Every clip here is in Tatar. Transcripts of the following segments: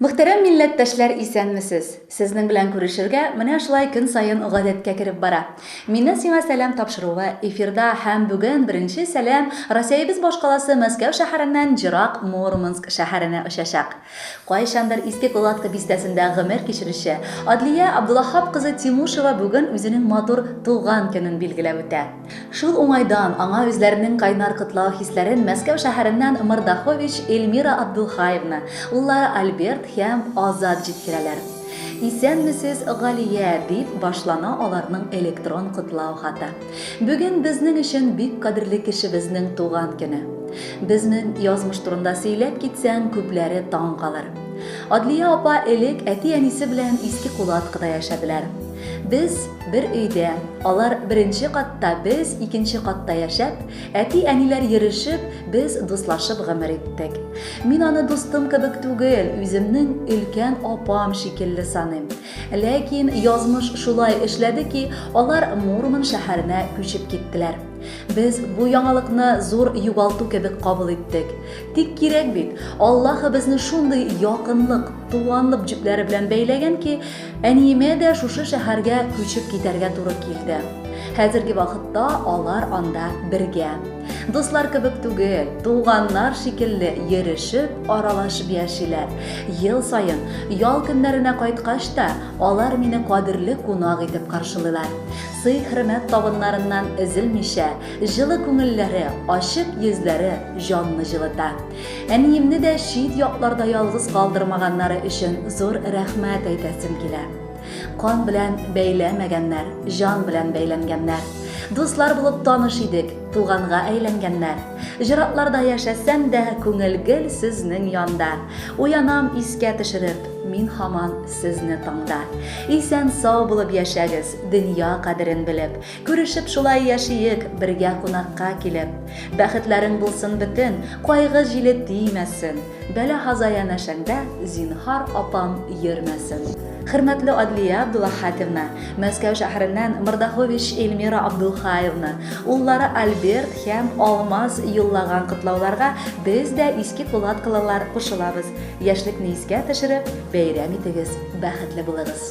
Мөхтәрәм милләттәшләр исәнмесез! Сезнең белән күрешергә менә шулай көн саен гадәткә кереп бара. Миннән сиңа сәлам тапшыруы эфирда һәм бүген беренче сәлам Росәебез башкаласы Мәскәү шәһәреннән Җырак Мурманск шәһәренә очачак. Кайчандыр Иске Кулатка бистәсендә гомер кичерүче Адлия Абдулаһап кызы Тимушева бүген үзенең матур туган көнен билгеләп үтә. Шул уңайдан аңа үзләренең кайнар котлау хисләрен Мәскәү шәһәреннән Мордахович Эльмира Абдулхаевна, уллары Альберт һәм Азат җиткерәләр. Исәнмесез, Галия, дип башлана аларның электрон котлау хаты. Бүген безнең өчен бик кадерле кешебезнең туган көне. Безнең язмыш турында сөйләп китсәң, күпләре таң калыр. Адлия апа элек әти-әнисе белән Иске Кулаткыда яшәделәр. Без, бер өйдә, алар беренче катта, без икенче катта яшәп, әти-әниләр йөрешеп, без дуслашып гомер иттек. Мин аны дустым кебек түгел, үземнең өлкән апам шикелле саныйм. Ләкин язмыш шулай эшләде ки, алар Мурман шәһәренә күчеп киттеләр. Без бу яңалыкны зур югалту кебек кабул иттек. Тик кирәк бит, Аллаһы безне шундый якынлык, туганлык җепләре белән бәйләгән ки, Әниемә дә шушы шәһәргә күчеп китәргә туры килде. Хәзерге вакытта алар анда бергә. Дуслар кебек түгел, туганнар шикелле йөрешеп, аралашып яшиләр. Ел саен ял көннәренә кайткач та, алар мине кадерле кунак итеп каршылыйлар. Сый-хөрмәт табыннарыннан өзелмичә, җылы күңелләре, ачык йөзләре җанны җылыта. Әниемне дә чит якларда ялгыз калдырмаганнары өчен зур рәхмәт әйтәсем килә. Кан белән бәйләмәгәннәр, җан белән бәйләнгәннәр. Дуслар булып таныш идек, туганга әйләнгәннәр. Җыратларда яшәсәм дә, күңел гел сезнең янда. Уянам искә төшереп, мин хаман сезне таңда. Исән сау булып яшәгез, дөнья кадерен белеп. Күрешеп шулай яшиек, бергә кунакка килеп. Бәхетләрең булсын бөтен, кайгы җиле тимәсен. Бәла һаза янәшәңдә, зинһар, апам, йөрмәсен. Хөрмәтле Адлия Абдулахатевна, Мәскәү шәһәреннән Мордахович Эльмира Абдулхаевна, уллары Альберт һәм Алмаз юллаган котлауларга без дә иске кулаткалылар кушылабыз. Яшьлекне искә төшереп, бәйрәм итегез, бәхетле булыгыз!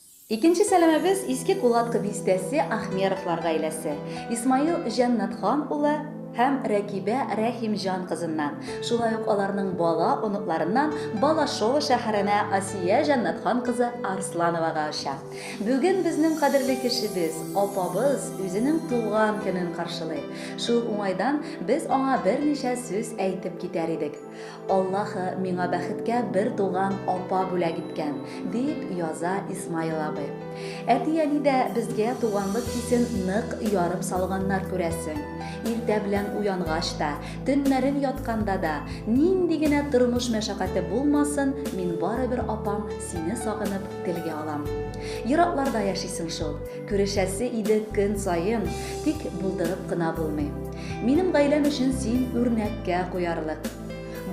Икенче сәламебез Иске Кулаткы бистәсе Ахмеровлар гаиләсе, Исмаил Җәннәтхан улы һәм Рәкибә Рәхимҗан кызыннан, шулай ук аларның бала оныкларыннан Балашова шәһәренә Асия Җәннәтхан кызы Арслановага оча. Бүген безнең кадерле кешебез, апабыз үзенең туган көнен каршылый. Шул уңайдан без аңа берничә сүз әйтеп китәр идек. Аллаһы миңа бәхеткә бер туган апа бүләк иткән, дип яза Исмаил абый. Әти-әни дә безгә туганлык хисен нык ярып салганнар күрәсең. Иртә белән уянгач та, төннәрен ятканда да, нинди генә тормыш мәшәкате булмасын, мин барыбер апам, сине сагынып телгә алам. Еракларда яшисең шул. Күрешәсе иде көн саен, тик булдырып кына булмый. Минем гаиләм өчен син үрнәккә куярлык.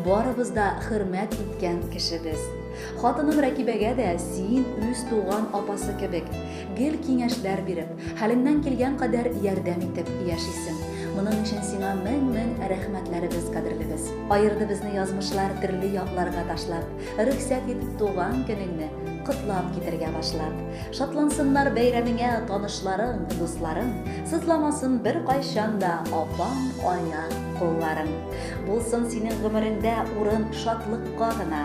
Барыбыз да хөрмәт иткән кеше без. Хатыным Рәкибәгә дә син үз туган апасы кебек, гел киңәшләр биреп, хәлеңнән килгән кадәр ярдәм итеп яшисең. Моның өчен сиңа мең-мең рәхмәтләребез, кадерлебез. Аерды безне язмышлар төрле якларга ташлап. Рөхсәт ит туган көнеңне котлап китергә башлап. Шатлансыннар бәйрәмеңә танышларың, дусларың, сызламасын бер кайчан да апаң, ая, кулларың. Булсын синең гомереңдә урын шатлыкка гына,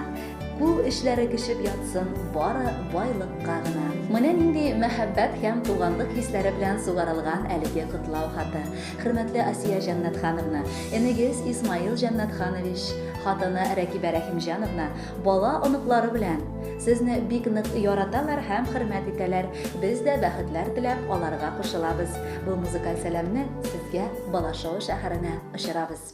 кул эшләре кешеп ятсын бары байлыкка гына. Менә нинди мәхәббәт һәм туганлык хисләре белән сугарылган әлеге котлау хаты. Хөрмәтле Асия Җәннәтхановна, энегез Исмаил Җәннәтханович, хатыны Рәкибә Рәхимҗановна, бала, оныклары белән! Сезне бик нык яраталар һәм хөрмәт итәләр. Без дә бәхетләр теләп аларга кушылабыз. Бу музыкаль сәламне сезгә Балашова шәһәренә очырабыз.